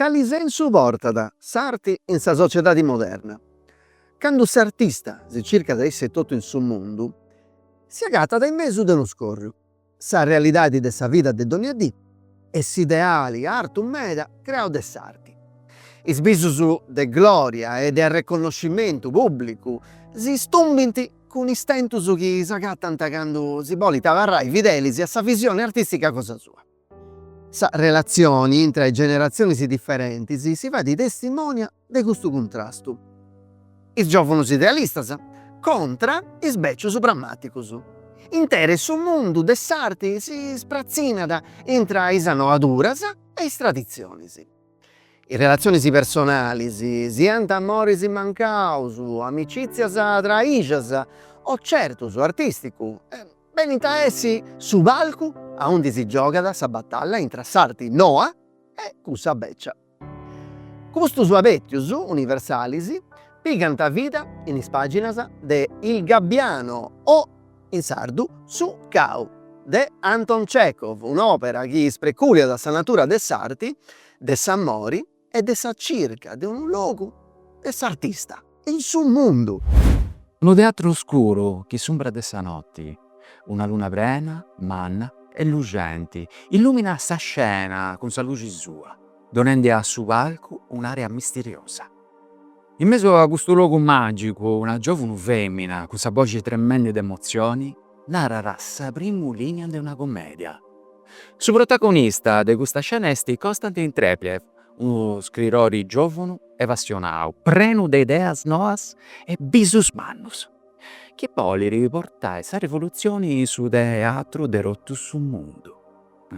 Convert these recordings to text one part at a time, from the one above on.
Cali sensu portat s'arti in sa sociedadi moderna? Candu s'artista si circat a issu etotu in su mundu, si agatat in mesu de unu scorriu, Sa realidadi de sa vida de dònnia dì e s'ideali artu meda creau de s'arti. Is bisus de glòria e de arreconnoscimentu pùblicu si stumbint cun istentus chi s'agatant candu si bolit abarrai fidelis a sa visioni artìstica cosa sua. Sa relatzioni intra is generatzionis diferentis si fait testimònia de custu cuntrastu, is giòvunus idealistas contra is bècius prammàticus. Interi su mundu de s'arti si spratzinat intra is anoaduras e is traditzionis. Is relatzionis personalis, siant amoris mancaus, amicìtzias traìxas o certus artìsticus, benint a essi su palcu aundi si giogat sa batalla intra s'arti noa e cussa bècia. Custus abettius universalis pigant vida in is pàginas de Il gabbiano o, in sardu, Su cau, de Anton Chekhov, un'òpera chi ispreculiat sa natura de s'arti, de s'amori e de sa circa de unu logu de s'artista. in su mundu. Unu teatru oscuru che s'umbra de sa noti, una luna prena, manna e luxenti, illuminat sa scena cun sa luxi sua, donendi a su palcu un'aria misteriosa. In mesu a custu logu magicu una giovunu femina cun sa boxi tremendi de emozioni narat sa primu linea de una comedia. Su protagonista de custa scena est Konstantin Treplev, unu scritori giòvunu e passionau, prenu de ideas noas e bisus mannus, chi bolit portai sa rivolutzioni in su teatru de totu su mundu.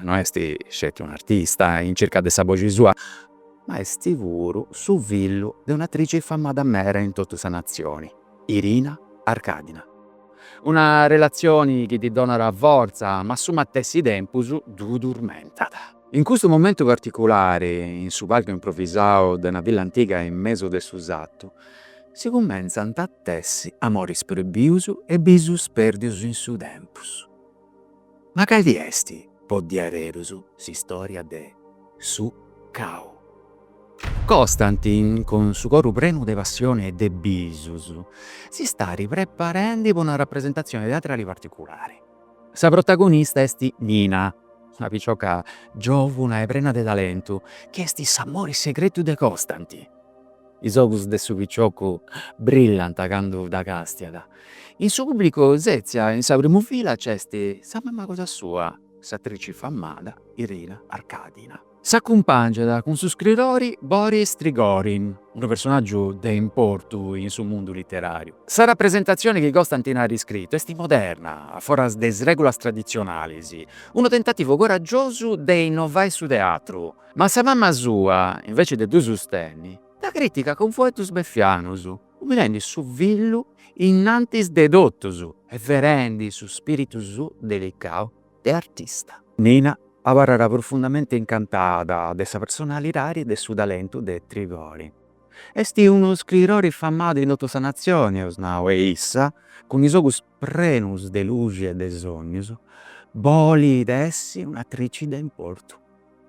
No est sceti un'artista in circa de sa boxi sua, ma est puru su fillu de un'atrici famada meda in totu sa natzioni, Irina Arkadina. Una relatzioni chi ddi donat fortza, ma a su matessi tempus ddu turmentat. In custu momentu particulari, in su palcu improvvisau de una villa antiga in mesu de su satu, si cummentzant a tessi amoris proibius e bisus perdius in su tempus. Ma cali est, po diaderus, s'istória de Su cau? Konstantin, cun su coru prenu de passioni e de bisus, si stait preparendi po una rapresentatzioni teatrali particulari. Sa protagonista est Nina, una picioca giòvuna e prena de talentu chi est s'amore segretu de Constantin. Is ogus de su piciocu brillant candu dda castiat. In su pùblicu sètzia in sa primu fila nc'est sa mama cosa sua, s'atrici famada Irina Arkadina. S'acumpàngiat cun su scridori Boris Trigorin, unu personàgiu de importu in su mundu literàriu. Sa rapresentatzioni chi Constantin at iscritu est moderna, a foras de is règulas traditzionalis, unu tentativu coragiosu de innovai su teatru. Ma sa mama sua, invece de ddu sustenni, dda crìticat cun fueddus befianus, umilendi su fillu innantis de totus e ferendi su spìritu suu delicau de artista. Nina abarrat profundamente incantada de sa personalidadi e de su talentu de Trigorin. Esti unu scridori famadu in totu sa natzioni, eus nau, e issa, cun is ogus prenus de luxi e de sognus, bolit essi un'atrici de importu.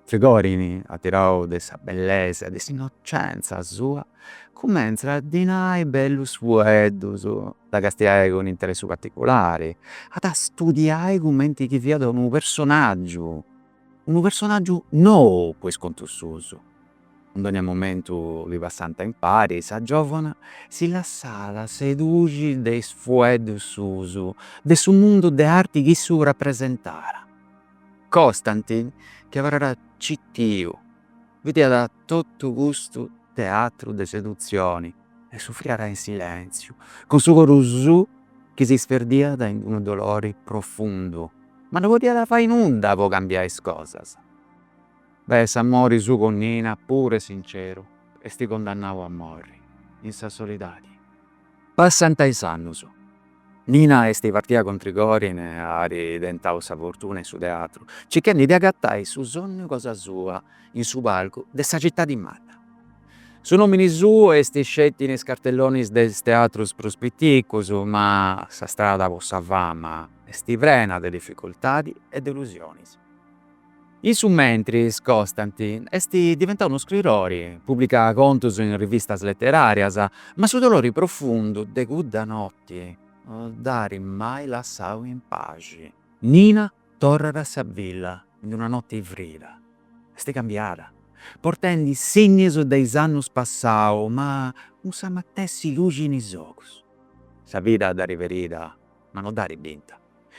Trigorin, atirau de sa bellesa, de s'innocenza sua, cumentzat a ddi nai bellus fueddus, a dda castiai cun interessu particulari, a dda studiai cumenti chi fiat unu personaggiu nou po is contus suus. In dogna momentu chi passant impari, sa giovana si lassat sedùiri de is fueddus suus, de su mundu de arti chi issu rapresentàt. Constantin chi abarràt citiu bidìat totu custu teatru de sedutzioni e sufriàt in silèntziu, cun su coru suu chi s'isperdìat in unu dolori profundu, ma no podìat fai nudda po cambiai is cosas. Beh, s'amori suu cun Nina, puru e sinceru, est cundannau a morri in sa solidadi. Passant is annus. Nina est partida cun Trigorin e at tentau sa fortuna in su teatru, circhendi de agatai su sonnu cosa sua in su palcu de sa citadi manna. Su nomini suu est sceti in is cartellonis de is teatrus prus piticus, ma sa strada po sa fama est prena de dificultadi e delusionis. In su mentris Constantin est diventau unu scridori, publicat contus in rivistas leterarias, ma su dolori profundu de cudda noti no dd'arit mai lassau in paxi. Nina torrat a sa villa ind una noti frida, est cambiada, portendi signis de is annus passaus ma cun sa matessi luxi in is ogus. Sa vida dd'arit ferida ma no dd'arit binta.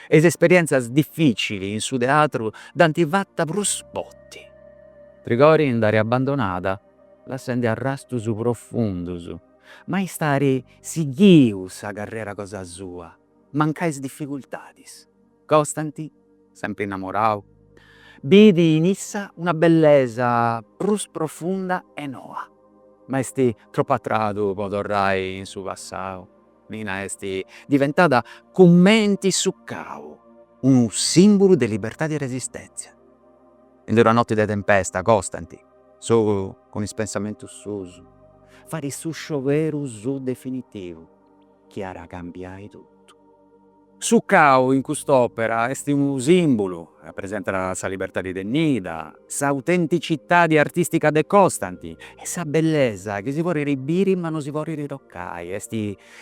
e is esperièntzias difìcili in su teatru dd'ant fata prus forti. Trigorin dd'at abandonada lassendi arrastus profundus, ma iss'at sighiu sa carrera cosa sua, mancai is dificultadis. Costanti, sempri innamorau, bit in issa una bellesa prus profunda e noa, ma est tropu a tradu po torrai in su passau. Nina est diventada cumenti su cau unu simbulu de libertadi e resistèntzia. In d'una noti de tempesta, Costanti, solu cun is pensamentus suus, fait su scioberu suu definitivu chi at a cambiai totu. Su cau in cust'òpera est unu sìmbulu, rapresentat sa libertadi de Nina, s'autenticitadi artìstica de Costanti e sa bellesa chi si podit biri ma no si podit tocai, est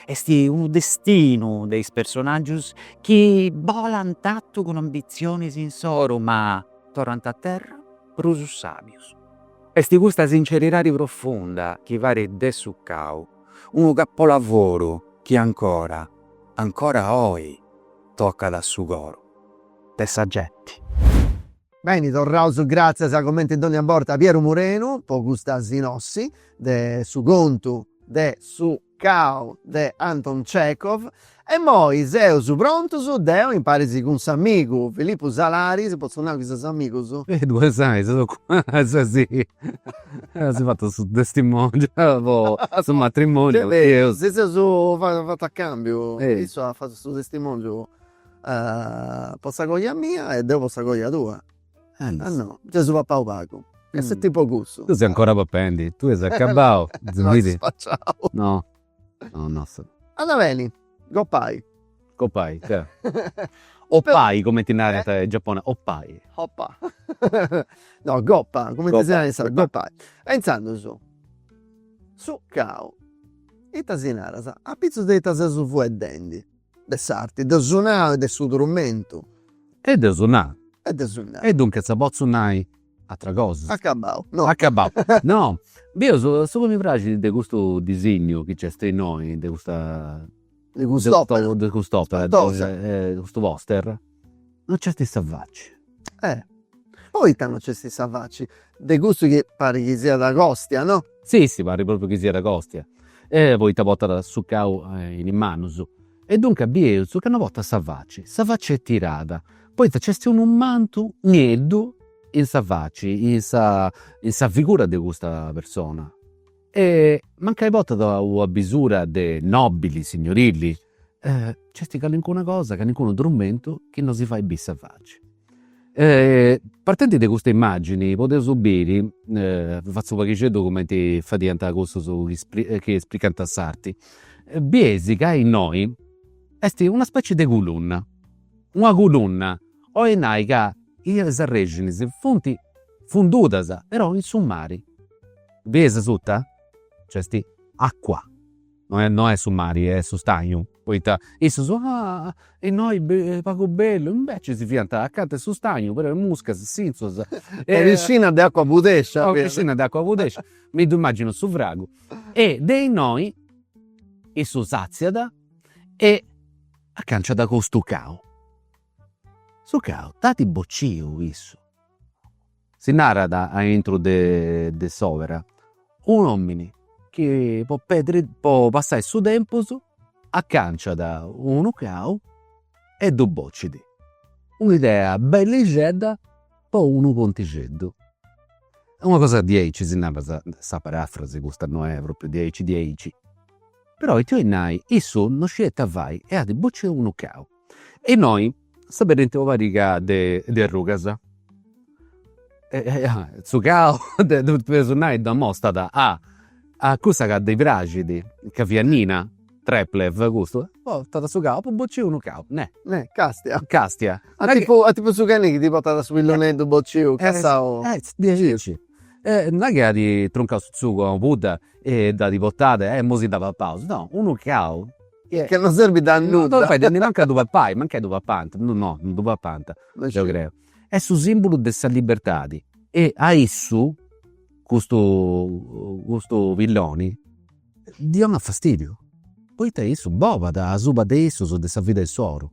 est unu destinu de is personàgius chi bolant artu cun ambitzionis insoru ma torrant a terra prus sàbius. Est custa sinceridadi profunda chi fait de Su cau unu capolavoru chi ancora Ancora oi tocat a su coru de sa genti. Beni torraus gràtzias comenti dònnia borta a Pieru Murenu po custa sinossi de su contu de Su cau de Anton Chekhov e immoi seus prontus deu imparis cun s'amigu Filippu Salaris, potzu nai chi seus amigus? Duas saias o cuatru, sa si. As fatu su testimongiu po su matrimoniu. Si seus fatu a cambiu, issu at fatu su testimongiu po sa coja mia e deu po sa coja tua. E no, gei eus papau pagu. Est tipu cussu. Tui ses ancora papendi, tui as acabau. No, no. No no. Andat beni goppai. Goppai ca. Oppai cumenti narant is giaponesus, oppai. Oppa. No goppa cumenti si narat in sardu, goppai. E intzandus su cau ita si naras, apitzus de ita seus fueddendi De s'arti, de su nau e de su trumentu. E de su nau. E de su nau. E duncas nci potzu nai ateras cosas. Acabau, no. Acabau, no. Deu su su chi mi praxit de custu disignu chi nc'est innoi, de custa. De cust'opera. De cust'opera. Spantosa. Custu poster No nc'est sa faci. Eh! Poita no nc'est sa faci? De custu chi parit chi siat Kostia, no? Si, si, parit propriu chi siat Kostia. E poita portat su cau in is manus. E duncas bieus ca no portat sa faci. Sa faci est tirada, poita nc'est unu mantu nieddu in sa faci, in sa in sa figura de custa persona. E mancai portat una bisura de nobili, signorili. Nc'est calincuna cosa, calincunu trumentu chi no si fait bi' sa faci. Partendi de custa immagini podeus biri, fatzu u' paghixeddu cumenti fadiant cussus chi espricant s'arti, biesi ca innoi esti una specie de culunna, una culunna, oi nai ca is arrexinis funt fundudas, però in su mari. Biesi suta? Nc'est acua, No est su mari, est su stagnu. Poita issus, Ah! Innoi pagu bellu! Inveci si fiant acanta 'e su stagnu, però is muscas sintzuas. Una piscina de acua pudescia. Una piscina de acua pudescia, mi ddu immagino su fragu. E de innoi issu s'atziat e acanciat custu cau. Su cau dd'at bociu issu. Si narat aintru de s'òbera, un'òmini chi po pedri po passai su tempus acànciat unu cau e ddu bocit, un'idea bellixedda po unu contixeddu. Una cosa diaici si narat sa sa parafrasi, custa no est pròpriu diaici diaici, però ita 'olit nai, issu non scit ita fai e at bociu unu cau e innoi s'aberint una pariga de de arrugas su cau de su personàgiu ddu amostat a a cussa ca ddi praxit ca fiat Nina Treplev custu, portat su cau, apu bociu unu cau, neh, neh, castia, castia, a tipu a tipu su cani chi ti portat su pilloneddu bociu cassau, diaici, e non est chi at truncau su tzugu a una pudda e dd'at portada e imoi si dda papaus, no, unu cau Ca non serbit a nudda. No fait mancu a ddu papai, mancai ddu papànt, no, no ddu papànt, deu creu. Est su sìmbulu de sa libertadi. E a issu custu custu pilloni ddi 'onat fastìdiu, poita issu bolat asuba de issus, de sa vida issoro,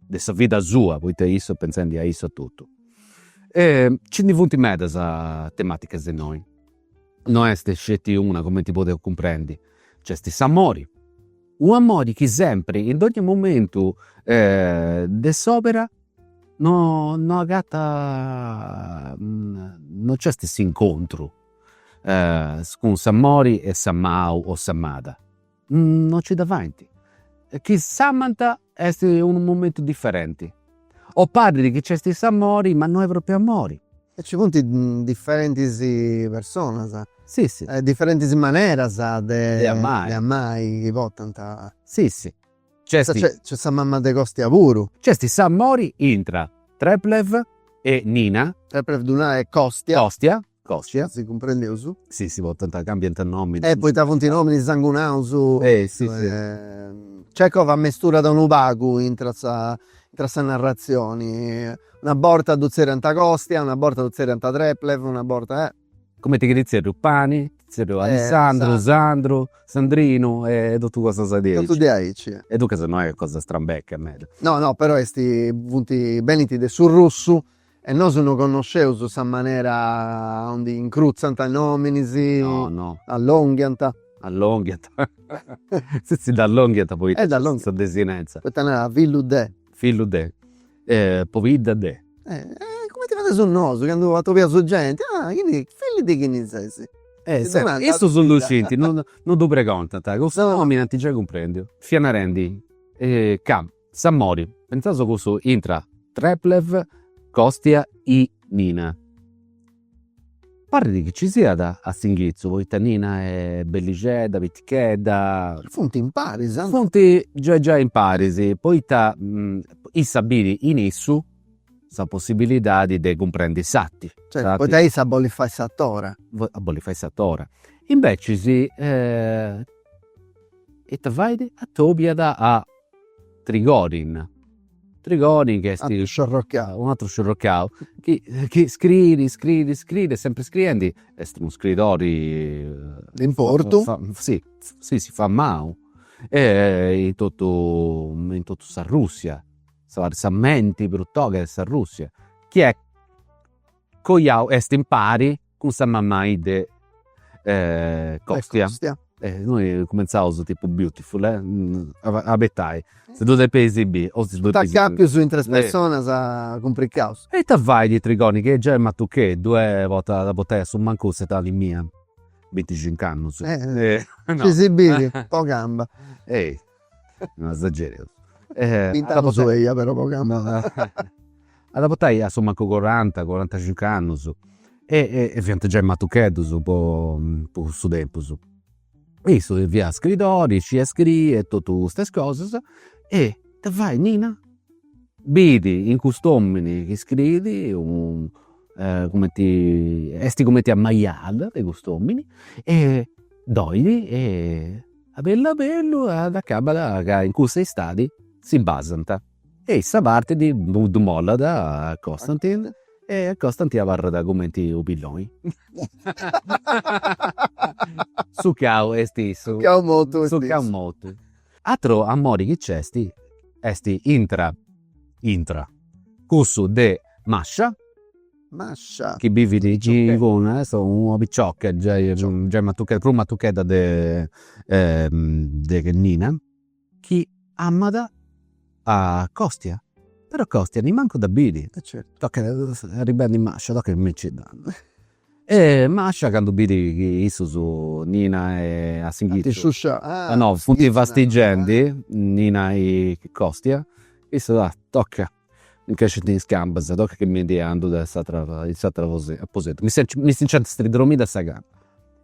de sa vida sua, poita issu est pentzendi a issu etotu. Nci ndi funt medas temàticas innoi No est sceti una, comenti podeus cumprendi, nc'est s'amori, un'amori chi sempri, in dogni momentu de s'òbera no no agatat, no nc'est s'incontru cun s'amori e s'amau o s'amada No nci dda faint. Chi s'amant est unu momentu diferenti. O parit chi nc'est s'amori ma no est propriu amori. E ci funt diferentis personas. Sì sì. E diferentis maneras de amai. De amai chi portant. Sì sì. Nc'est sa mama de Costia puru. Nc'est s'amori intra Treplev e Nina. Treplev ddu narat e Costia. Costia. Costia. Si cumprendeus. Si si portant, cambiant nomini. E poita funt nominis sangunaus. E si si. Cecov ammesturat unu pagu intra sa intra sa narratzioni, una borta ddu tzerriant Costia, una borta ddu tzerriant Treplev, una borta e. Cumenti chi ddi tzerriu Pani, ddi tzerriu Alessandru, Sandru, Sandrinu e totu cosas diaici. Totu diaici. E duncas no est cosa strambecca meda. No no però est, funt, benint de su russu E nosu no connosceus sa manera aundi incrutzant nominis, allonghiant. Allonghiant. Si si dd'allonghiant poita nc'est sa desinenza. Poita narat fillu de. Fillu de. Pobidda de. Cumenti fadeus nosu candu atobiaus genti, ah chini, fillu de chini ses. Issus ddu scint, no ddu pregontant. Cun su nomini ant giai cumprendiu. Fia narendi, ca S'amori, pentzaus cussu intra Treplev, Kostia e Nina. Parrit chi ci siat a s'inghitzu poita Nina est bellixedda, pitichedda. Funt imparis. Funt giai giai imparis poita issa bit in issu sa possibilidadi de cumprendi s'arti. Certu, poita issa bolit fai s'atora. Bolit fai s'atora. Invecias ita fait? Atobiat a Trigorin, Trigorin chi est. Un'atru sciorrocau. Un'atru sciorrocau chi chi scriit, scriit, scriit e sempri scriendi est unu scriidori. De importu. Si, si, si, famau e in totu, in totu s'Arrussia, sa menti prus toga de s'Arrussia chi est. Coiau est impari cun sa mamai de Costia. Innoi cumentzaus tipu beautiful eh, abetai, si ddu depeis biri o si ddu depeis. St'acapius intre personas cumpricaus. E ita fait Trigorin chi est giai matucheddu e portat, at a portai a su mancu s'etadi mia, binticincu annus. Si si biri po gamba. No esagereus. Bint'annus eia però po gamba. At a portai a su mancu coranta, corantacincu annus e e fiant giai matucheddus po po cussu tempus. E issu fiat scriidori, scidiat scriri e totu custas cosas e ita fait Nina, bit in cust'omini chi scriit unu cumenti, esti cumenti ammajada de cust'omini e dd'olit e a bellu a bellu dd'acabat ca in cussa istadi si basant e issa partit ddu mollat a Costantin e a Costantin abarrat cumenti u' pilloni. Su cau est issu. Su cau mortu est issu. Su cau mortu. Ateru amori chi nc'est est intra intra cussu de Masha Mascia. Chi bivit chi inguni est una picioca giai giai matuchedda prus matuchedda de de Nina chi amat a Costia però Costia nimancu dda biri tocat arribendi Mascia tocat cumenti e Mascia candu biri chi issus Nina e a s'inghitu no funt fastigendi Nina e Costia issu tocat Nc'essint is cambas e tocat chi mi ndi andu de s'atera in s'atera aposentu. Mi si nc'ant stridromidas sa cama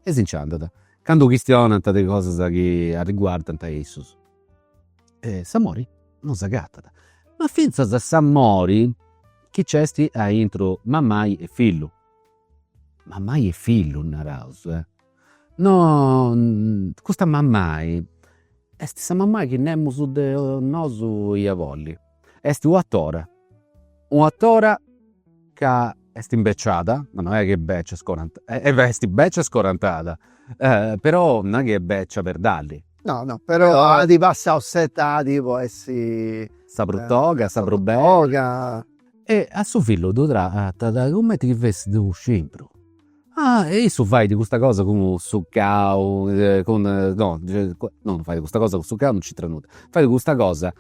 e si nc'andat. Candu chistionant de cosas chi arriguardant a issus. S'amori non s'agatat. Ma fintzas s'amori chi nc'est intra mamai e fillu. Mamai e fillu naraus. No, custa mamai est sa mamai chi nemus de nosu ia bolli est u' atora, u' atora ca est imbeciada, ma no est chi est bècia, est bècia scorantada, però no est chi est bècia perdalli. No no, però at passau s'etadi po essi. Sa prus toga, sa prus bella. E a su fillu ddu tratat cumenti chi fessit u' scimpru. Ah e issu fait custa cosa cun su cau, cun, no, no non fait custa cosa cun su cau, non nc'intrat nudda, fait custa cosa,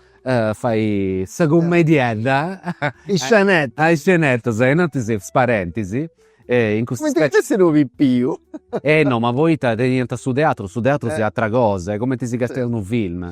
fait sa cummediedda, is scenetas, is scenetas e innantis is parentis e in custas cumenti chi fessit unu pipiu, eh no ma poita teniant su teatru, su teatru fiat atera cosa, est cumenti si castiat unu film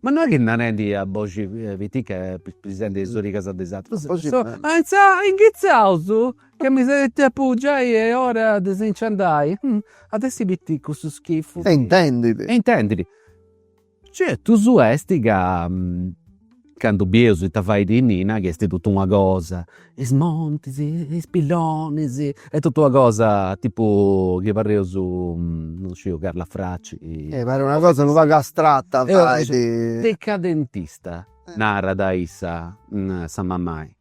Ma no est chi narendi a boxi piticca pispisendi in is origas de is atrus. Inghitzaus ca mi seti tempus giai est ora de si nci andai. At essi piticcu su schifu. E intendidi. E intendidi. Certus est ca candu bieus ita fait Nina, chi est totu una cosa is montis, is pillonis e totu una cosa tipu chi pareus non sciu Carla Fracci. E parit una cosa unu pagu astrata fait. Decadentista narat issa, sa mamai.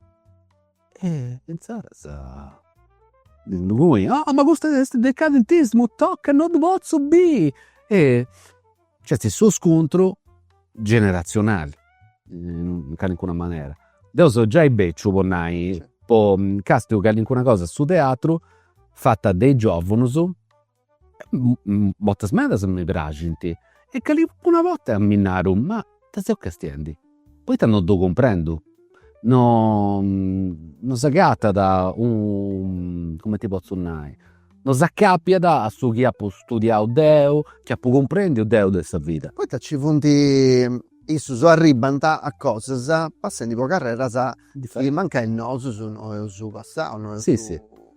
E insaras inguni, oh ma custu est decadentismu, toca, non ddu potzu biri e Nc'est su scuntru generatzionali, in calincuna manera. Deu seu giai beciu, po nai, po càstiu calincuna cosa a su teatru fata de is giovunus, bortas medas mi praxint e calincuna borta mi naru, ma Ita seu castiendi? Poita no ddu cumprendu? No no s'agatat u cumenti potzu nai, no s'acapiat a su chi apu studiau deu, chi apu cumprendiu deu de sa vida. Poita nci funt issus arribbant a cosas passendi po carreras chi mancai nosu no eus passau, no eus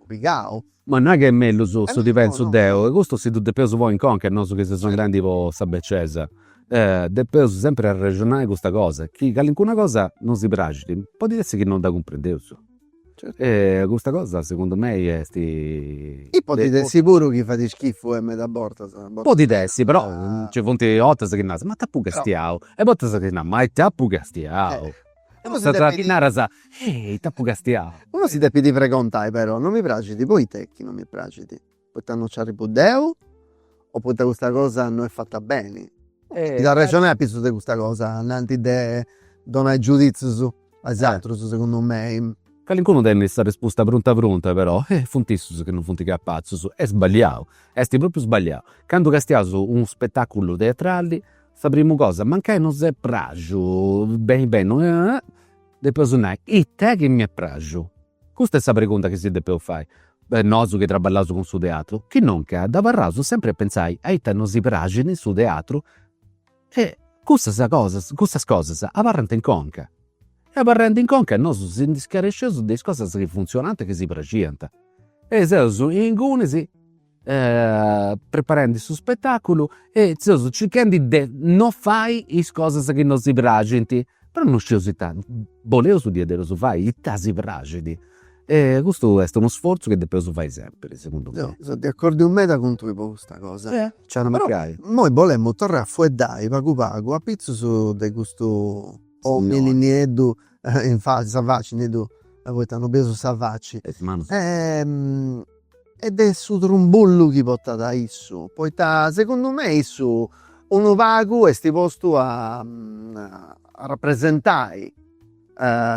pigau. Ma no est chi est mellus su chi pentzu deu, e custu si ddu depeus ponni in conca nosu chi seus andendi po sa becesa, depeus sempri arrexonai custa cosa, chi calincuna cosa non si praxit, podit essi chi non dda cumprendeus, e custa cosa segundu mei esti. E podit essi puru chi fait schifu e meda bortas. Podit essi, però nci funt 'ortas chi naras, ma ita apu castiau, e bortas chi naras, ma ita apu castiau Custa chi naras ita apu castiau. Unu si depit pregontai però, non mi praxit, poita est chi non mi praxit? Poita non nci arribbu deu o poita custa cosa non est fata beni? Est a arrexonai a pitzus de custa cosa innanti de donai giuditzius a is atrus segundu mei. Calincunu tenit sa respusta prunta prunta però eh funt issus chi non funt capatzus, est sballiau, est propriu sballiau. Candu castiaus unu spetaculu teatrali Sa primu cosa, mancai no s'est praxu beni beni, depeus nai, ita chi m'est praxu? Custa est sa pregunta chi si depeus fai. Nosu chi traballaus cun su teatru, chinuncas abarraus sempri a pentzai a ita no si praxit in su teatru e cussas cosas, cussas cosas abarrant in conca. E abarrendi in conca nosu si ndi scaresceus de is cosas chi funtzionant e chi si praxiant. E seus ingunis preparendi su spetaculu e seus circhendi de no fai is cosas chi no si praxint, però no scieus ita boleus diaderus fai ita si praxit e custu est unu sforzu chi depeus fai sempri segundu mei. Seu de acordiu meda cun tui po custa cosa. Nci iat a mancai. Però imoi bolemu torrai a fueddai pagu pagu apitzus de custu omini nieddu in faci, sa faci nieddu poita no bieus sa faci. E is manus. E de su trumbullu chi portat issu, poita segundu me issu unu pagu est postu a rapresentai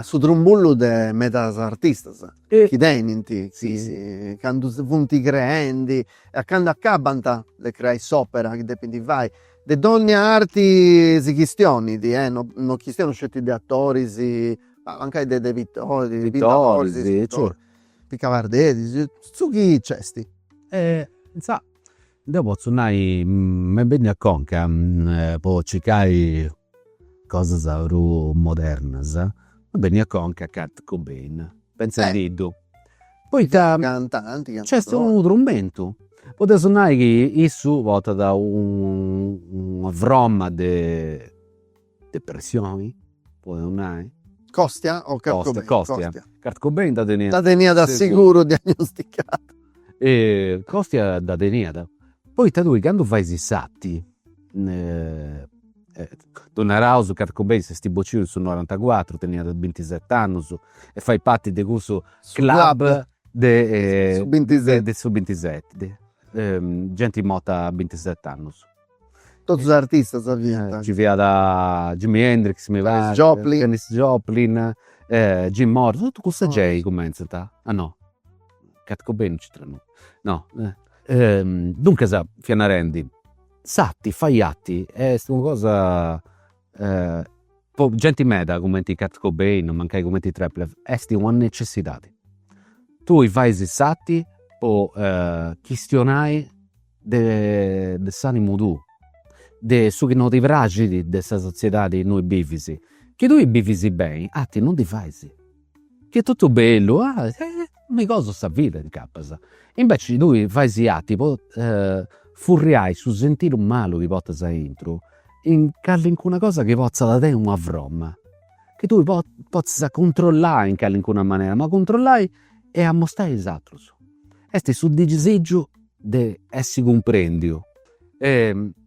su trumbullu de medas artistas chi tenint, chi candu funt creendi e candu acabant de creai s'opera chi depint fai, de dogna arti si chistionit, no chistiono sceti de atoris, ma mancai de de pittoris, de pintoris, de scultoris Picaperderis, su chi nc'est? Intzà, deu potzu nai, m'est benniu a conca po circai cosas prus modernas, m'est benniu a conca Kurt Cobain, pentzendiddu, poita nc'est unu trumentu, podeus nai chi issu portat una froma de Depressioni, podeus nai. Còstia o Kurt Cobain? Còstia, còstia. Kurt Cobain dda teniat. Dda teniat a seguru diagnosticada. E còstia dda teniat. Poita tui candu fais s'arti, ddus naraus Kurt Cobain, s'est bociu in su norantacuatru, teniat bintiset'annus e fait parti de cussu club de su bintiseti, de su bintiseti, genti morta a bintiset'annus. Totu is artistas fiant. Nci fiat Jimi Hendrix mi parit. Joplin. Janis Joplin, Jim Morrison, totu cussa gei cumenzant, ah no, Kurt Cobain no nci intrat, no. Duncas, fia narendi, s'arti, fai arti est una cosa Po genti meda cumenti Kurt Cobain, mancai cumenti Treplev, esti una necessidadi. Tui faisi s'arti po chistionai de s'animu tuu, de su chi no ti praxidi de sa sotziedadi innui bivisi. Chi tui bivisi beni, arti no ndi faisi. Chi est totu bellu, mi gosu sa vida incapas. Inveci tui fais arti po furriai su sentiru malu chi portas aintru in callincuna cosa chi potzat tenni una fromma, chi tui potzis a cuntrollai in callincuna manera, ma cuntrollai e amostai a is atrus. Est su disigiu de essi cumprendiu e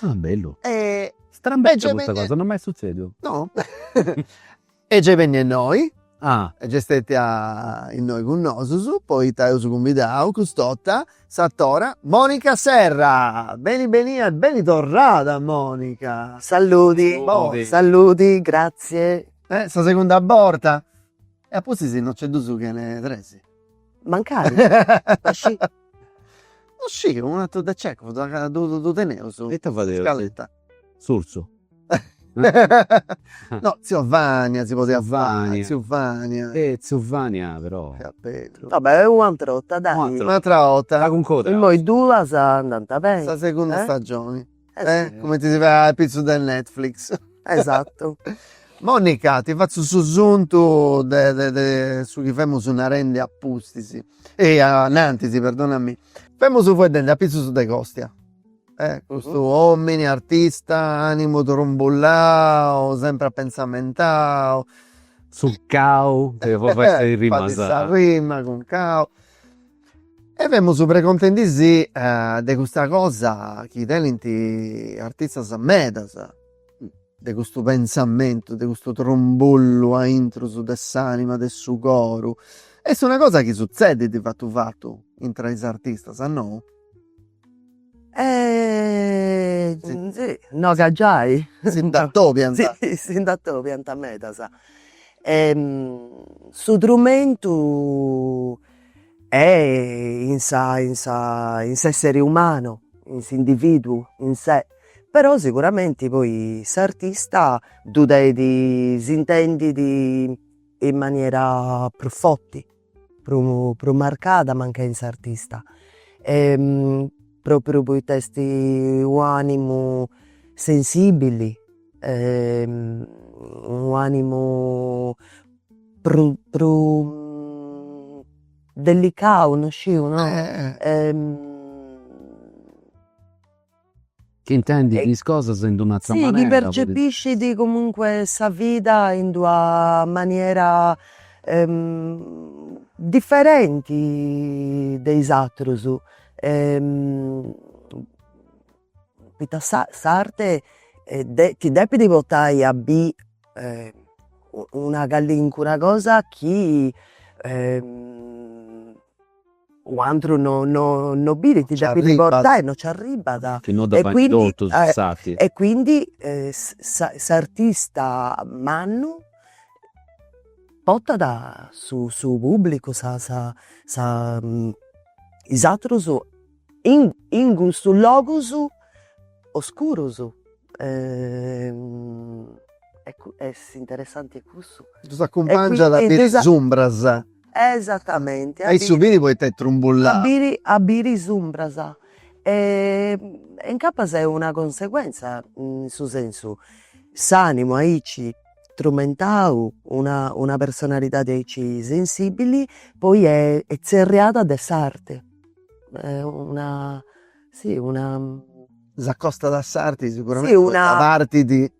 Ah bellu. E Strambeccia custa cosa, non m'est sutzediu. No est gei bennia innoi. Ah. Est gei stetia innoi cun nosus, poita eus cumbidau cust'ota s'atora Monica Serra. Beni benia e beni torrada Monica. Salludi. Salludi. Salludi, gratzie. Eh sa segunda borta. E a pustis no nc'est dus chene tres. Mancari? Ma scì. No sciu, unu atru de Cechov, ca ddu teneus. in scaletta. Surzu. No, tziu Vania si podiat fai. Tziu Vania. Tziu Vania. Eh tziu Vania però. Fiat bellu. Va bè, u'ateru 'orta dai. Un'atera 'orta. Un'atera 'orta. Imoi duas andant beni. Sa segunda stagioni. Eh cumenti si fait apitzus de Netflix. Esatu. Monica, ti fatzu su suntu de de de su chi femus narendi a pustis, a nantisi perdonami. Femus faeddendi apitzus de Costia, de custu omini artista, animu trumbullau, sempri apentzamentau. Succau, e fai sa rima. Fai sa rima, cun cau E femus precontendi si de custa cosa chi tenint artistas medas, de custu pensamentu, de custu trumbullu aintrus de s'anima, de su coru. Est una cosa chi sutzedit fatu fatu intra is artistas, no? no ca giai si nd'atobiant, si nd'atobiant medas e su trumentu e' in sa in sa in s'essere umanu, in s'individuu in se, però sicuramente poi s'artista ddu depit intendi in maniera prus forti prus marcada mancai in s'artista propriu poita est u'animu sensibili u'animu prus prus delicau no sciu no Chi intendit is cosas in d'un'atra manera. Si, chi percepiscit comunque sa vida in d'una maniera diferenti de is atrus. Poita s'arte ti depit portai a biri una calincuna cosa chi un'atru no no no birit ddu depit portai no c'arribat e quindi e quindi s'artista mannu portat su su pubblicu sa sa sa is atrus in in custus logus oscurus est interessanti cussu. Ddus acumpangiat a biri is umbras. Esatamenti. At a biri poita est trumbulladu. A biri a biri is umbras. E incapas est una conseguentza in su sensu, s'animu aici trumentau, una una personalidadi aici sensibili poi est tzerriada de s'arti. Una si una. S'acostat a s'arti siguramenti poita partit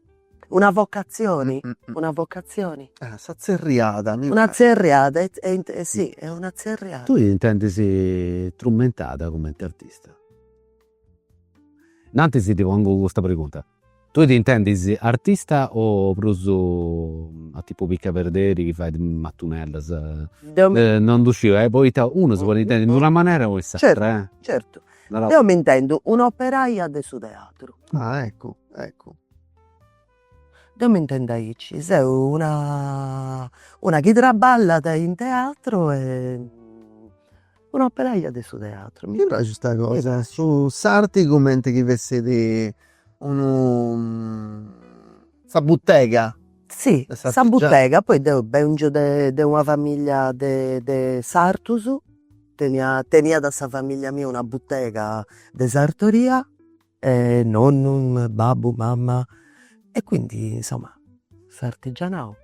Una vocatzioni, una vocatzioni. Ah, sa tzerriada. Una tzerriada, e e si, est una tzerriada. T'intendis trumentada cumenti artista? Innantis ti pongu custa pregunta. Tui t'intendis artista o prus a tipu picaperderi chi fait matunellas? Deu mi. Non ddu sciu, poita unu si podit intendi in d'una manera o in s'atra, eh. Certu, certu. Deu m'intendu un'operaia de su teatru. Ah, eccu, eccu. Deo mi intendu aici, seu una una chi traballat in teatru e un'operaia de su teatru. Mi praxit custa cosa, su s'arti cumenti chi fessit sa butega. Si sa butega, poi deu bèngio de de una familia de de sartus, tenia teniat sa familia mia una butega de sartoria e nonnu, babbu, mamma e quindi insomma s'artigianau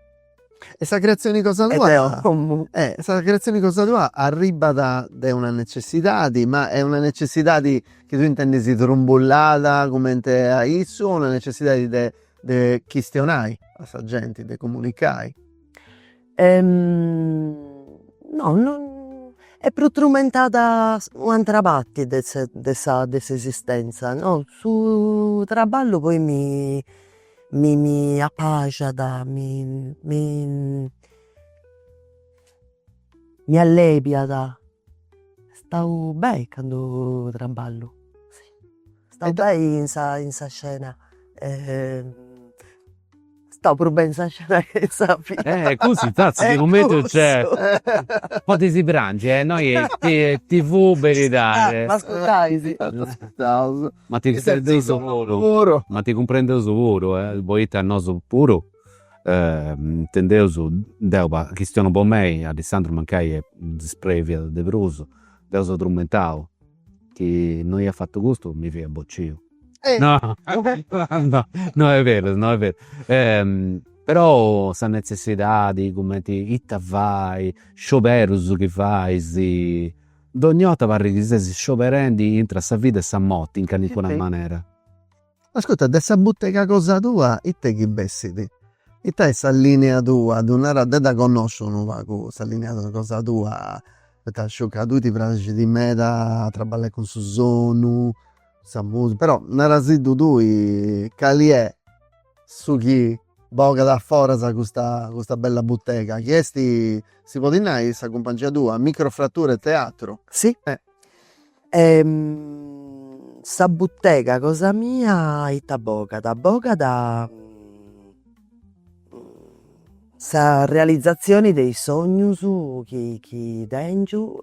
e sa creazioni cosa tua e sa creazioni cosa tua arribat de una necessidadi ma est una necessidadi chi tu intendis trumbullada cumenti a issu o una necessidadi de chistionai a sa genti de comunicai. No est prus trumentada u' atera parti de sa de sa de s'esistenza no, su traballu poi mi mi mi apaxiat mi mi mi allebiat, stau beni candu traballu, stau beni in sa in sa scena Stau prus beni in sa scena che sa vida. Eh cussu infattis chi cumenti nc'est potzu prangi e noi TV beridade. M'ascurtais. Ascurtaus. Ma ti cumprendeus puru. Ma ti cumprendeus puru poita nosu puru intendeus, deu chistionu po mei, Alessandru mancai est ispreviau de prus, deu seu trumentau Chi no iat fatu custu mi fia bociu. No no no est berus no est berus però sa netzessidadi cumenti ita fai, scioberus chi fais, dogna 'orta parrit chi ses scioberendi intr'e sa vida e sa morti in calincuna manera Ascurta, de sa butega cosa tua it'est chi bessit? Ita est sa linea tua? Ddu naras, deu dda connosciu unu pagu sa linea cosa tua, poita sciu ca a tui ti praxit meda a traballai cun su sonu, sa musica, però narasiddu tui cali est su chi bogat a foras custa bella butega, chi est, si podit nai, sa cumpangia tua, Microfratture Teatro? Si, Sa butega cosa mia ita bogat, bogat sa realizzazioni de is sognus chi chi tengiu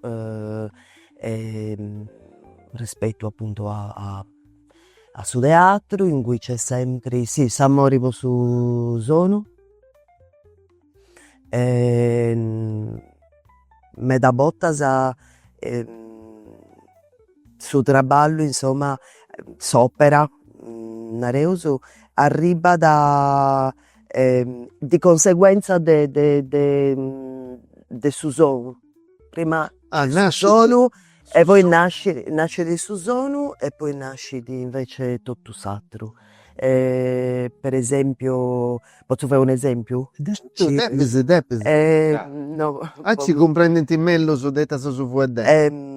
rispettu appuntu a a su teatru in cui nc'est sempri, sì, s'amori po su sonu meda bortas su traballu insomma s'opera nareus arribat di conseguenza de su sonu prima su sonu e poi nascit, nascit su sonu e poi nascit invece totu s'atru. per esempiu, potzu fai un'esempiu? Depis depis, aici cumprendint mellus, de ita seu fueddendi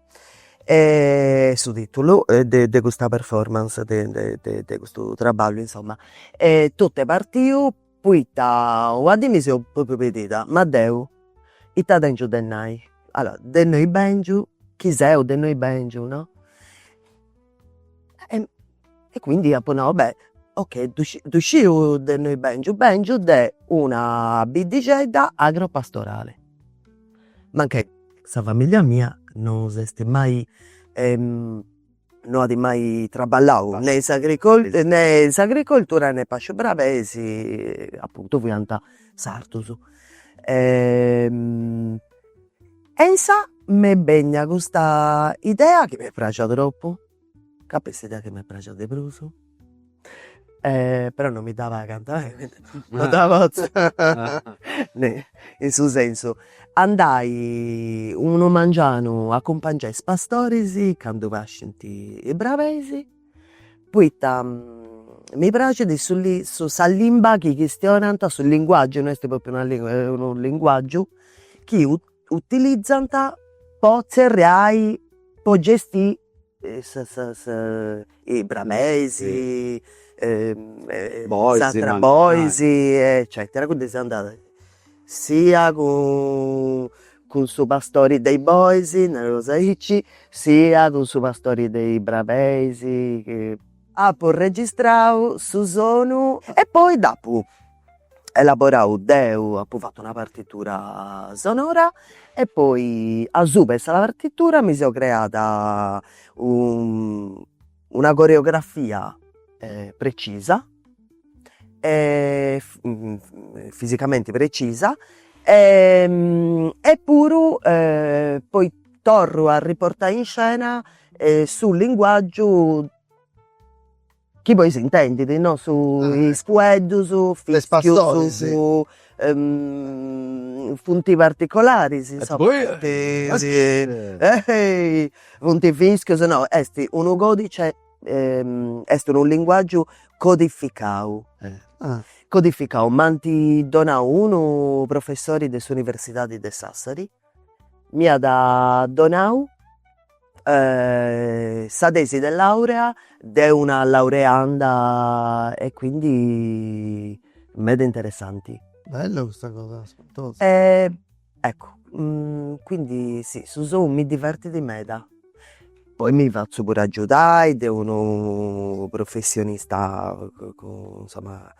e su titulu de de custa performance de de de de custu traballu insomma e totu est partiu poita una dì mi seu propriu pedida, ma deu ita tengiu de nai, allora de innui bengiu chi seu de innui bengiu no e quindi apo nau beh ok ddu sciu de innui bèngiu, bèngiu de una biddixedda agropastorale, mancai sa familia mia non s'est mai no at mai traballau ne in ne in s'agricoltura ne pàsciu brabeis, apuntu fiant sartus E insà m'est bènnia custa idea chi m'est praxia troppu, ca est s'idea chi mi praxit de prus e però non mi dda pagant e quindi non dda potzu fai in su sensu, andai unu mangianu a acumpangiai is pastoris candu pascint is brabeis Poita mi praxit su su sa limba chi chistionant su linguaggiu no est propriu una lingua est unu linguaggiu chi u- utilizant po tzerriai po gestiri sa sa is brabeis s'atra is bois eccetera, quindi seu andada sia cun Cun su pastori de is bois, nareus aici, sia cun su pastori de is brabeis chi apu registrau su sonu. E poi dd'apu elaborau deu, apu fatu una partitura sonora e poi asuba 'e sa partitura mi seu creada u Una coreografia precisa fisicamenti precisa e e puru poi torru a riportai in scena su linguaggiu chi poi s'intendidi no su is fueddus, is fischius, Funt particolaris insomma funt fischius no est unu codice est unu linguaggiu codificau codificau m'at donau unu professori de s'universidadi de Sassari M'iat donau sa tesi de laurea de una laureanda e quindi meda interessanti. Bella custa cosa, spantosa. Eccu quindi si su sonu mi divertit meda, poi mi fatzu puru aggiudai de unu professionista insomma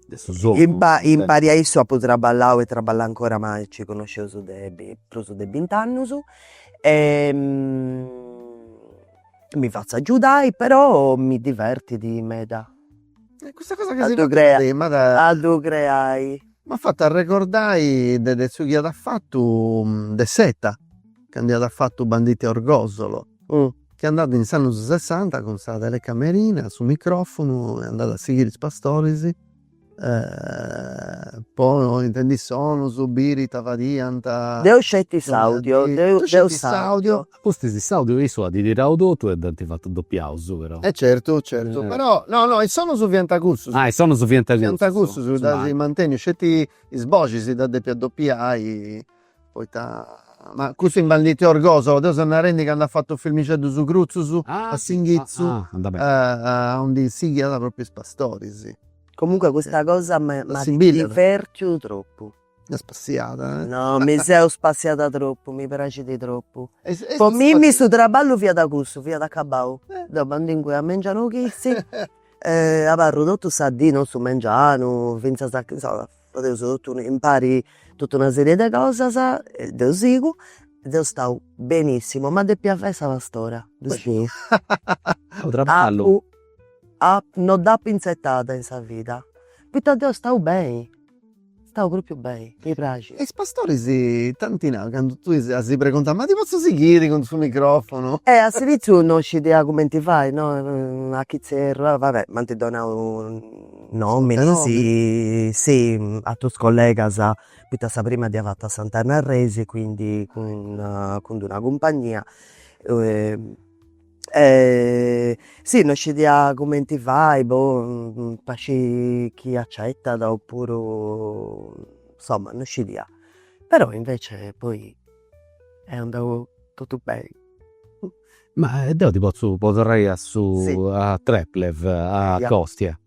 de su sonu. In pa in pari a issu apu traballau e traballu ancora ma ci connosceus de prus de bint'annus e mi fatzu agiudai però mi divertit meda a ddu creai, a ddu creai. M'at fatu arregordai de de su chi at fatu De Seta, candu iat fatu Banditi a Orgosolo Chi andàt in s'annus sessanta cun sa telecamerina, su microfunu e andàt a sighiri is pastoris po intendi is sonus, biri ita fadiant. Deu sceti s'audio. Deu sceti s'audio. Pustis s'audio issu at tirau totu e dd'ant fatu dopiaus però. E certu, certu, però, no no is sonus fiant cussus. Ah is sonus fiant cussus. Fiant cussus, ddus at mantenniu, sceti is boxis ddas depiat dopiai Poita ma cussu in Banditi a Orgosolo, deu seu narendi candu at fatu filmixeddus crutzus a s'inghitzu aundi sighiat propriu is pastoris. Comunque custa cosa mi divertit tropu. Est spassiada. No mi seu spassiada tropu, mi praxit tropu. Po mimmi su traballu fiat cussu, fiat acabau. Deu m'andu inguni a mengianu chitzi e abarru totu sa dì, no su mengianu, fintzas a, insoma Fadeus totu impari totu una sèrie de cosas e deu sigu e deu stau benissimu, ma depiat fai sa pastora no dd'apu inzetada in sa vida, poita deu stau beni, stau propriu beni, mi praxit. E is pastoris ita ant nau, candu tui as pregontau, ma ti potzu sighiri cun su microfonu? E a s'iniziu non scidia cumenti fai no, a chi zerru, va bè, m'ant donau nòminis si atrus collegas poita sa prima dd'ia fata a Sant'Anna Arresi quindi cun cun una cumpagnia e si no scidia cumenti fai boh, po sciri chi accettat oppuru insomma no scidia però invece poi est andau totu beni Ma deu ti potzu po torrai a su a Treplev, a Kostia.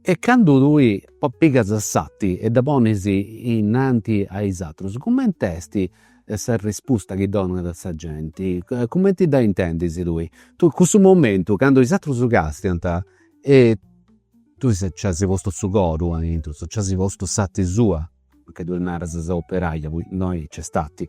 E candu tui pigas s'ati e dda ponis innanti a is atrus, cumenti est s'arrispusta chi donat sa genti? Cumenti dda intendis tui? Cussu momentu candu is atrus castiant e tui nci as postu su coru a intru, nci as postu s'ati sua, mancai tui naras sa operaia, poi innoi nc'est ati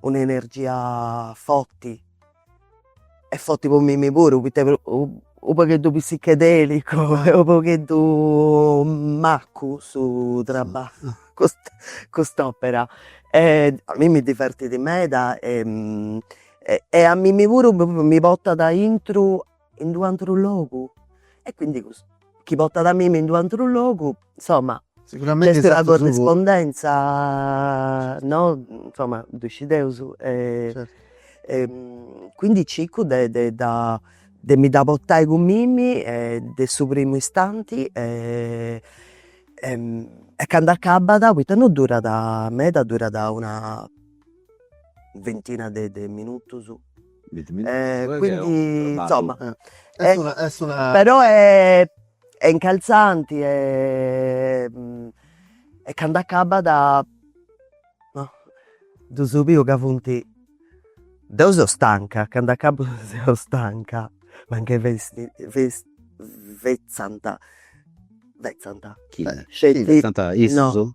un'energia forti e forti po mimmi puru poita unu pagheddu psichedelicu e unu pogheddu maccu su traballu cust'opera e a mimmi mi divertit meda e a mimmi puru mi portat intro in d'u antru logu e quindi custu chi portat a mimi in d'u antru logu insomma est una corrispondenza no insomma ddu scideus e quindi circu de de dda de mi dda portai cun mimi e de su primu istanti e e candu acabat poita non durat meda durat una ventina de de minutus E quindi insomma però est est incalzanti e e candu acabbat no ddu ses biu ca funt, deu seu stanca, candu acabu seu stanca, mancai festi festi fetzant fetzant sceti no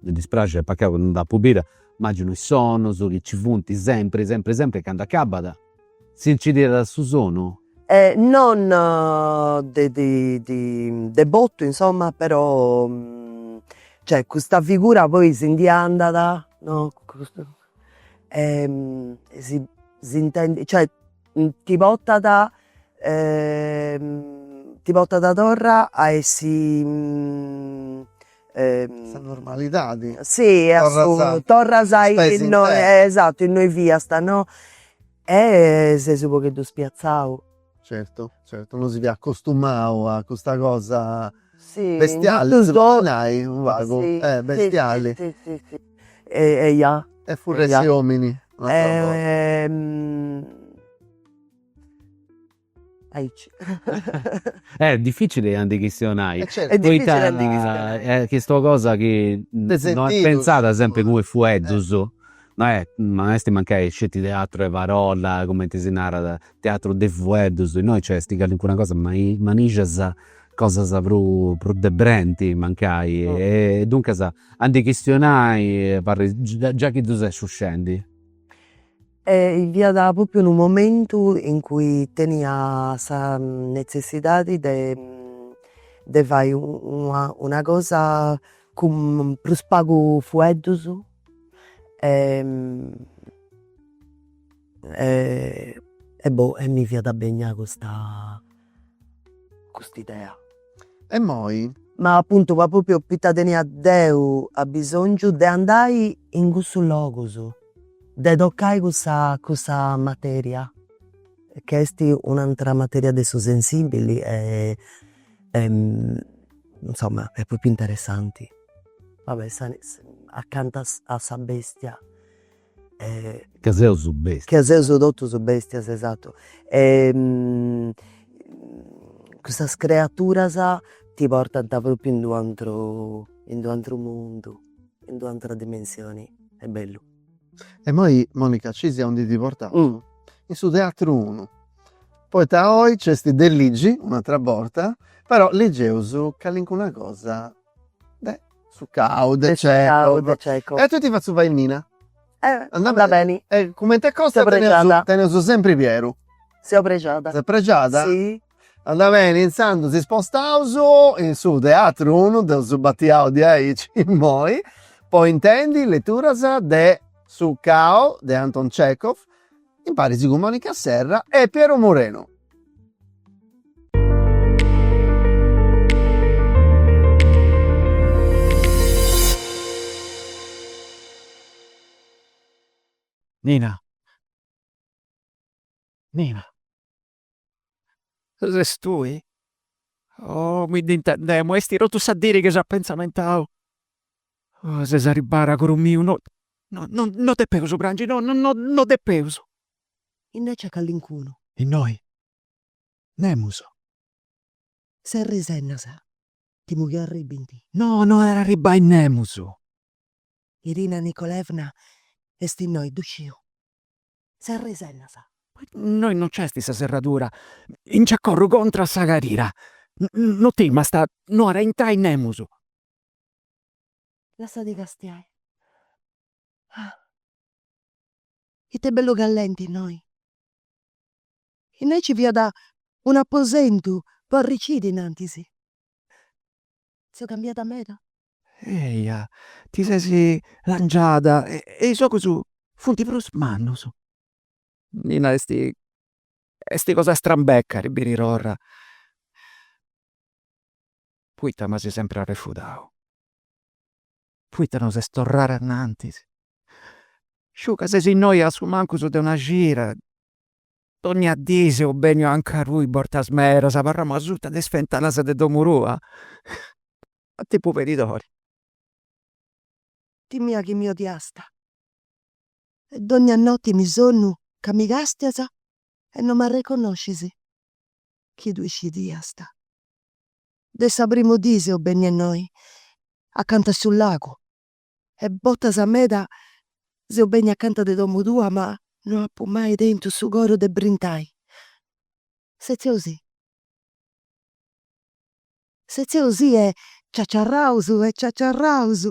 Mi dispraxit poita deu non dd'apu bida, immaginu is sonus chi nci funt sempri, sempri, sempri e candu acabat si nci tirat su sonu. E non de de botu insoma però cioè custa figura poi si ndi andat no e si si intendi cioè ti portat ti portat torra a essi sa normalidadi, si a su torras a innoi esattu innoi fiast no, e ses u pogheddu spiazzau. Certu certu no si fiat acostumau a custa cosa bestiali si podit nai unu pagu bestiali Eja. E furresti omini un'attra borta. Aici. Eh difficili a ndi chistionai. Eh certu. Poita. Est difficili a ndi chistionai. Est chistua cosa chi. De sentidu. No est pentzada sempri cumenti fueddus. No è, ma esti mancai sceti teatru 'e parolla, cumenti si narat, teatru de fueddus, innoi nc'esti callincuna cosa ma i manixas cosas prus prus de brenti mancai e duncas a ndi chistionai apari già chi ddu ses scendi. E fiat propriu unu momentu in cui tenia sa netzessidadi de de fai una cosa cun prus pagu fueddus e e boh e mi fiat benia cust'idea. E moi? Ma appuntu po propriu poita tenia deu abbisongiu de andai in cussus logus, de toccai cussa cussa materia, chi est un'antera materia de su sensibili e insomma est propriu interessanti. Va bè acanta a sa bestia Ca seus bestias. Ca seus totus bestias, esatu. Custas creaturas ti portant propriu in d'u'ateru, in d'u'ateru mundu, in d'u'atera dimensioni, est bellu. E imoi Monica scisi aundi ti portaus, in su teatru unu, poita oi nc'est de ligiri un'atera borta, però ligeus calincuna cosa de su cau de cecov de cecov e a tui ti fatzu fai nina andat beni e cumenti costia teneus sempri pieru seu prexada ses prexada si andat beni intzandus si spostaus in su teatru unu dd'eus batiau diaici immoi po intendi leturas de su cao de anton cecov imparis cun Monica Serra e Piero Moreno. Nina Nina Ses tui? Oh mi dd'intendemu, esti totu sa diri chi seu a pentzamentu. Oh ses arribbada, coro miu, no no no depeus prangi, no no no depeus. Innoi nc'at callincunu. Innoi. Nemus. Serra is ennas, timu chi arribbint. No no at a arribbai nemus. Irina Nikolaevna est innoi, ddu sciu. Serra is ennas. Innoi no nc'esti sa serradura, nci accotzu contra sa carira. No timast, no at a intrai nemus. Lassati castiai. Ah! Ita bellu callenti innoi! Innoi nci fiat un'aposentu po arriciri innantis. Seu cambiada meda? Eja, ti ses langiada e is ogus funt prus mannus. Nina, est, est cosa strambeca a ti biri torra. Poita m'as sempri arrefudau? Poita no ses torrada innantis? Sciu ca ses innoi a su mancus de una cida, donnia dì seu benniu anca tui bortas medas, abarramu asuta de is fentanas de domu tua. a tipu pedidori. Timia chi mi odiasta e dogna noti mi sonnu ca mi castias e no m'arreconnoscis chi tui scidiasta de sa primu dì seu bennia innoi acanta su lagu. e botas meda seu bennia acanta de domu tua ma no apu mai tentu su coru de brintai. Setzeus-sì. Setzeus-sì e ciaciarraus e ciaciarraus.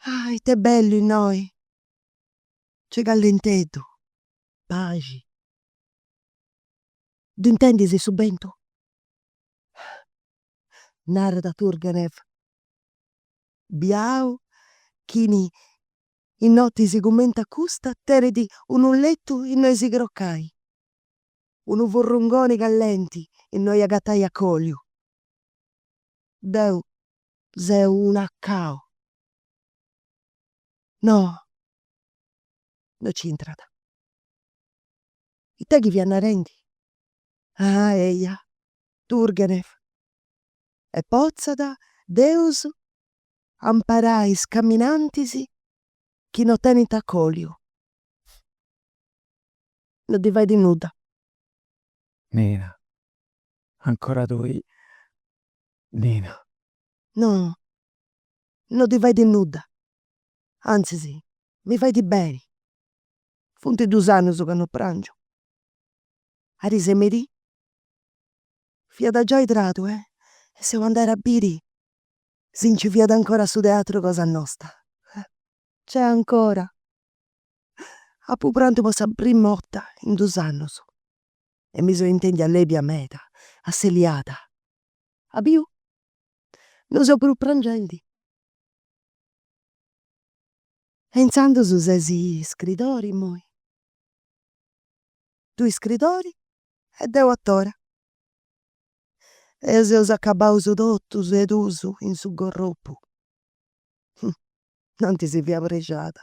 Ah ite bellu innoi, nc'est callenteddu, paxi. Ddu intendis su bentu? Narat Turgenev. biau chini in notis cumenti a custa tenit unu letu innoi si crocai, unu furrungoni callenti innoi agatai acoliu. Deu seu una cau. No, no nc'intrat. Ita chi fia narendi? Ah, eia, Turgenev, e potzat Deus amparai is caminantis chi no tenint acòliu. No ddi fait nudda. Nina, ancora tui, Nina. No, no ddi fait nudda, antzis mi fait beni. Funt dus annus ca no pràngiu. Arisemerì. Fiat giai tradu e seu andada a biri si nci fiat ancora su teatru cosa nosta. Nc'est ancora. Apu prantu po sa prima 'orta in dus annus e mi seu intendia lèbia meda, asseliada. As biu? Non seu prus prangendi. E intzandus ses iscridori immoi? Tui iscridori? E deu a tora. Eus eus acabaus totu sedus in su gorropu. Nanti si fiat prexada.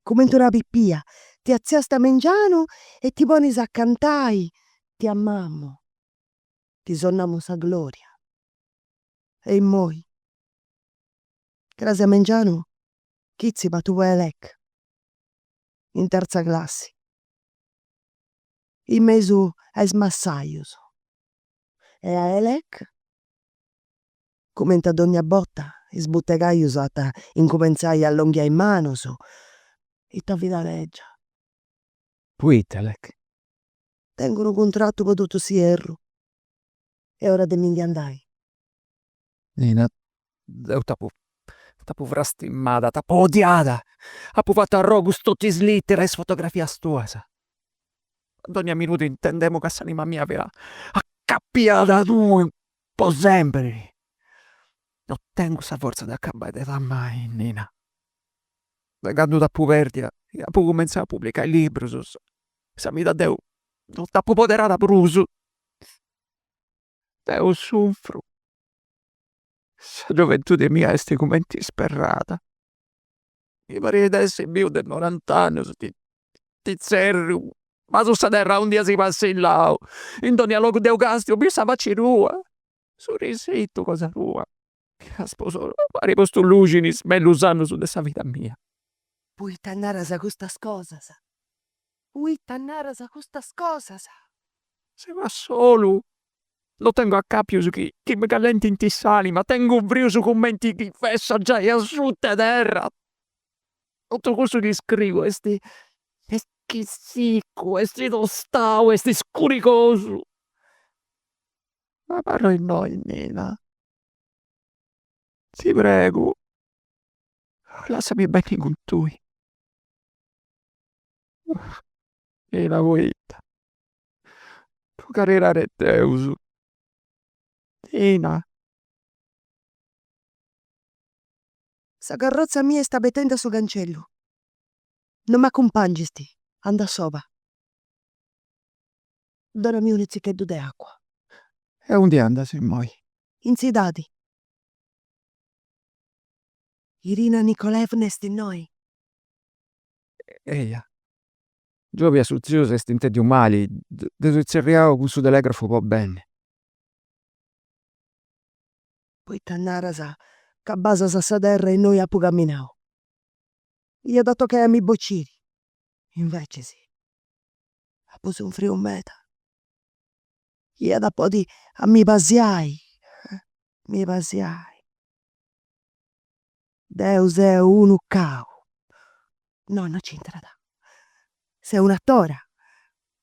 Cumenti una pipia. Ti atziast a mengianu e ti ponis a cantai, ti amamu, ti sonnamu sa gloria. E immoi. Cras a mengianu chi tzi patu fai lec. In terza classi. in mesu a is massajus e a Elec, cumenti a dogna borta is butegajus ant a incumentzai a allonghiai manus, ita fida legia! Poita, Elec? Tengu unu cuntratu po totu s'ierru, est ora de mi ndi andai. Deu t'apu t'apu frastimada, t'apu odiada, apu fatu arrogus totu is literas, is fotografias tuas. A dogna minudu intendemu ca s'anima mia fiat acapiada a tui po sempri. No tengu sa fortza de acabai de t'amai, Nina. De candu t'apu perdia chi apu cumenzau a publicai librus, sa vida deu no dd'apu poderada prus. deu sufru, sa gioventude mia est cumenti isperrada, mi parit de essi biu de norant'annus, ti tzerriu, basu sa terra aundi as passillau, in dogna logu deu castiu, biu sa faci tua, su risitu cosa tua, As postu luxi in is mellus annus de sa vida mia. Poita naras custas cosas? Poita naras custas cosas? Seu a solu, no tengu acapius chi mi callentint s'anima, tengu frius cumenti chi fessa giai asuta 'e terra. Totu cussu chi scriu est, est sicu, est tostau, est scurigosu. Abarra innoi, Nina, Ti pregu, lassami benni cun tui. Nina, poita, po caridadi de Deus, Nina. Sa carrozza mia est abetendi a su cancellu. Non m'accumpangisti, andu a soba. Donami unu tzicheddu de acua. E undi andas immoi? In tzidadi. Irina Nikolaevna est innoi? Eja. Giòbia su tziu s'est intèndiu mali, dd'eus tzerriau cun su telegrafu po benni. Poita naras ca basas a sa terra innui apu caminau? Iat a tocai a mi bociri, invecis. apo sunfriu meda, iat a podi a mi pasiai, mi pasiai, deu seu unu cau, no no nc'intrat, seu un'atora,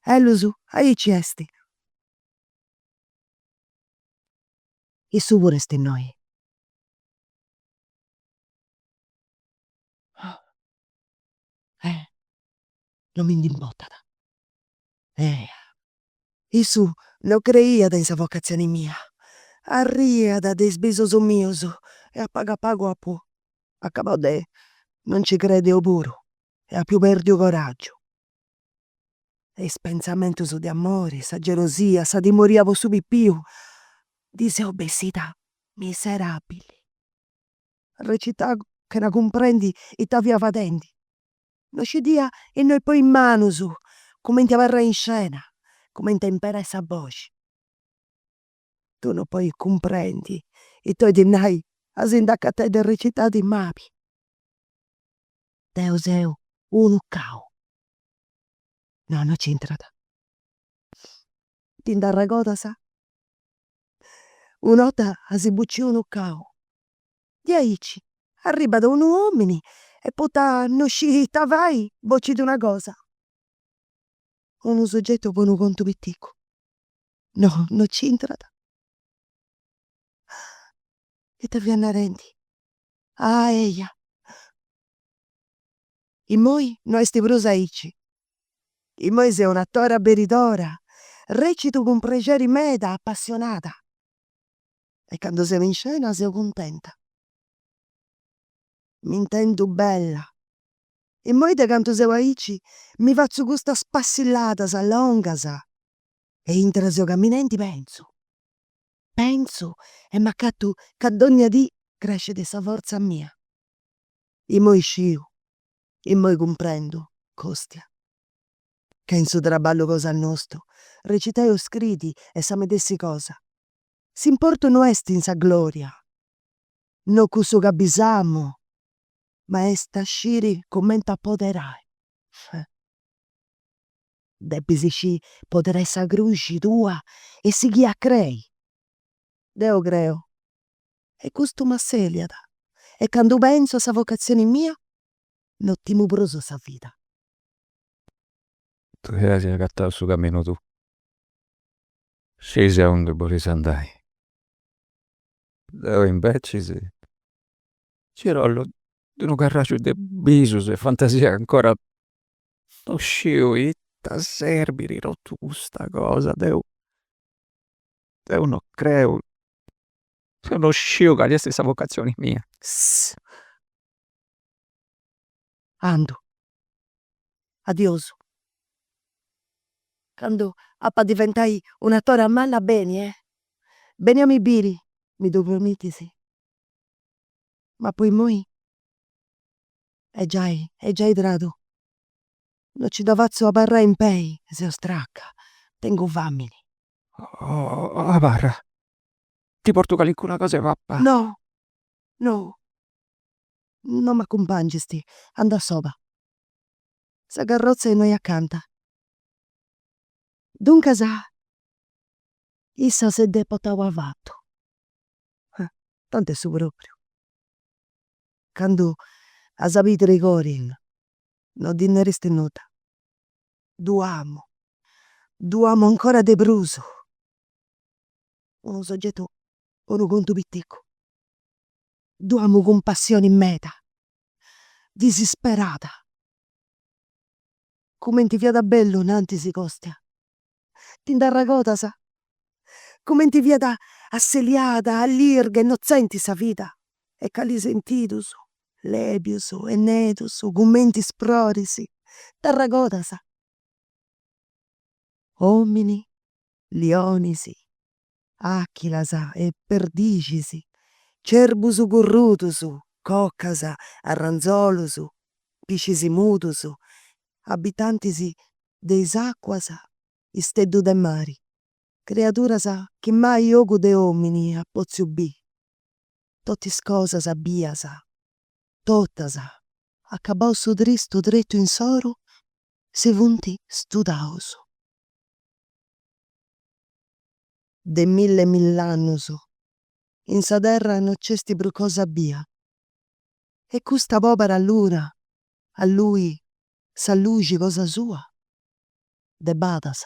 ellus aici est, issu puru est innoi. no mi nd'importat. Ea! Issu no creiat in sa vocatzioni mia, arriat de is bisos mios e a pagu a pagu apu acabau de no nci crei deu puru e apu perdiu coraggiu. E is pentzamentus de amori, sa gelosia, sa timoria po su pipiu ndi seu bessida miserabili. Recitau chena cumprendi ita fia fadendi. no scidia innoi poi is manus, cumenti abarrai in scena, cumenti a imperai sa boxi. Tui no podis cumprendi ita 'olit nai a si nd'acatai de recitai ti mabi. Deu seu unu cau. No, no nc'intrat. Ti nd'arregodas? Una 'orta as bociu unu cau Diaici arribat unu omini e poita no scit ita fai bocit una cosa. Unu soggetu po unu contu piticu. No, no c'intrat. Ita fia narendi. Ah eia. Immoi no est prus aici. Immoi seu un'atora beridora, recitu cun prexeri meda apassionada. e candu seu in scena seu cuntenta. M'intendu bella. Immoi de cantu seu aici mi fatzu custas passilladas longas e intre seu caminendi pentzu, pentzu e m'acatu ca dònnia dì crescit sa fortza mia. Immoi sciu, immoi cumprendu, Costia, ca in su traballu cosa nostu, recitai o scriri est sa medessi cosa, S'importu no est in sa glòria, no cussu ca bisamu, ma est a sciri cumenti apoderai. Depis sciri poderai sa cruxi tua e sighiri a crei. Deu creu, e custu m'assèliat, e candu pentzu a sa vocatzioni mia no timu prus sa vida. Tui as agatau su caminu tuu. Scis aundi bolis andai. Deu imbecis ci rollu de unu carraxu de bisus e fantasia ancora no sciu ita serbit totu custa cosa. Deu, deu no creu, deu no sciu cali esti sa vocatzioni mia. Andu, Adiosu. Candu ap'a diventai un'atora manna beni eh, beni a mi biri, mi ddu promitis? Ma po imoi est giai, est giai tradu, no nci dda fatzu abarrai in pei, seu straca, tengu famini. Oh abarra, ti portu calincuna cosa 'e pappai. No, no, No m'acumpàngisti, andu a soba. Sa carrotza est innoi acanta. Duncas issa si dd'est portau avatu. Tanti est su pròpriu. Candu as a biri Trigorin no ddi nèristi nudda. Ddu amu, ddu amu ancora de prus. Unu sogetu, unu contu piticu. Ddu amu cun passioni meda, disisperada. Cumenti fiat bellu innantis, Costia. Ti nd'arragodas? Cumenti fiat asseliada, allirga, innotzenti sa vida e cali sentidus, lèbius e nedus, cumenti is froris. T'arragodas? Omini, lionis, Àchilas e perdixis, cerbus currudus, cocas, arranzolus, piscis mudus, abitantis de is àcuas, isteddu de mari, criaduras chi mai ogu de òmini at pòtziu biri, totu is cosas bias, totas, acabau su tristu tretu insoru, si funt studaus. de milli e mill'annus in sa terra no c'est prus cosa bia e custa pobera luna alluit sa luxi cosa sua de badas.